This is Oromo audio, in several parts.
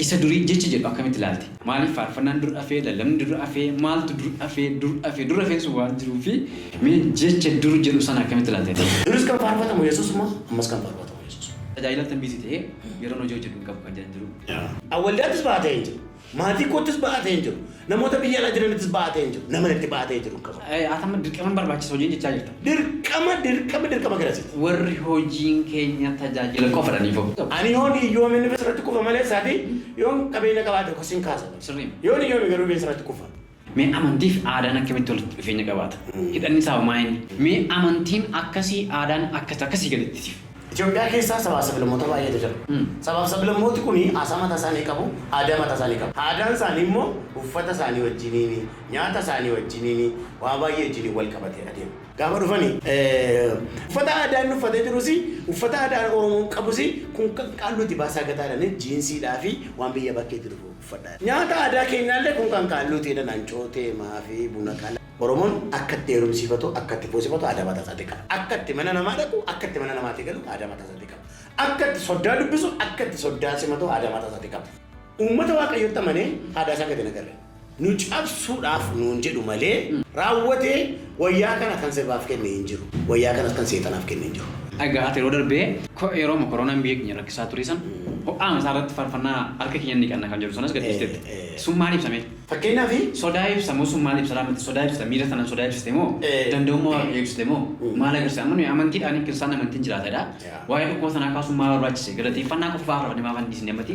Isa durii jecha jedhu akkamitti ilaalti? Maaliif faarfannaan dur dhafee, lallabni dur dhafee, maaltu dur dhafee, dur dhafee, dur dhafeen sun waan jiruu fi mee jecha dur jedhu sana akkamitti ilaaltee? Duris kan faarfatamu Yesuusuma, ammas kan faarfatamu Yesuusuma. Tajaajila tambiisi ta'ee yeroon hojii hojjedhu hin qabu kan jedhan jiru. Waldaattis baatee hin jiru. Maatii koottis ba'aa ta'een jiru. Namoota biyya alaa jiranittis ba'aa ta'een jiru. Naman itti ba'aa ta'ee jiru hin qabu. Ati amma dirqama hin barbaachisa hojiin jechaa jirta. Dirqama dirqama dirqama garasiiti. Warri hojiin keenya tajaajila qofa dha ni fo. Ani yoon hiyyoome inni besarratti kufa malee saatii yoon qabeenya qabaate sin kaasa. Sirriidha. Yoon hiyyoome garuu besarratti kufa. Mee amantii fi aadaan akkamitti walitti dhufeenya qabaata? Hidhanni isaa hoo maa inni? Mee amantiin akkasii aadaan akkas akkasii gaditti siif. Itoophiyaa keessa sabaa fi sablammoota baay'eetu jira. Sabaa fi sablammooti kun haasaa mataa isaanii qabu, aadaa mataa isaanii qabu. Aadaan isaanii immoo uffata isaanii wajjiniin, nyaata isaanii wajjiniin, waa baay'ee wajjiniin wal qabatee adeema. Gaafa dhufani uffata aadaa inni uffatee jirus, uffata aadaan Oromoon qabus kun kan qaalluuti baasaa gataa jedhanii jiinsiidhaa fi waan biyya bakkeetti dhufu. uffadha. Nyaata aadaa keenyaallee kun kan kaalluu teedha nancoo tee maafi buna qala. Oromon akka itti heerumsiifatu akka itti fuusifatu aadaa mataa isaatii qaba. Akka itti mana namaa dhaqu akka itti mana namaatii galu aadaa mataa isaatii qaba. Akka itti soddaa dubbisu akka itti soddaa simatu aadaa mataa isaatii qaba. Uummata Waaqayyotti amanee haadhaa isaa gad hin agarre. Nu cabsuudhaaf nuun jedhu malee raawwatee Wayyaa kana kan sirbaaf kenne hin jiru. Wayyaa kanas kan seexanaaf kenne hin jiru. Egaa ati yeroo darbe yerooma koronaan biyya keenya rakkisaa ture san ho'aama isaa irratti faarfannaa harka keenyan dhiqanna kan jedhu sanas gadhiisteetta. Sun maal ibsa mee? Fakkeenyaaf. Sodaa ibsa moo sun maal ibsa laata? Sodaa ibsita miira sanaan sodaa ibsite moo danda'ummaa Waaqayyoo ibsite moo maal agarsiisa? Amma nuyi amantiidhaan kiristaanni amantiin jiraata jedha. Waa'ee dhukkuba sanaa kaasuun maal barbaachise? Galateeffannaa qofa faarfanne maaf hin dhiisne ammati?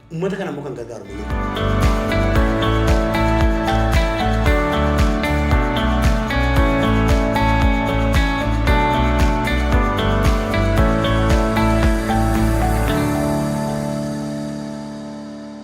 Uummata kana immoo kan gargaaru malee.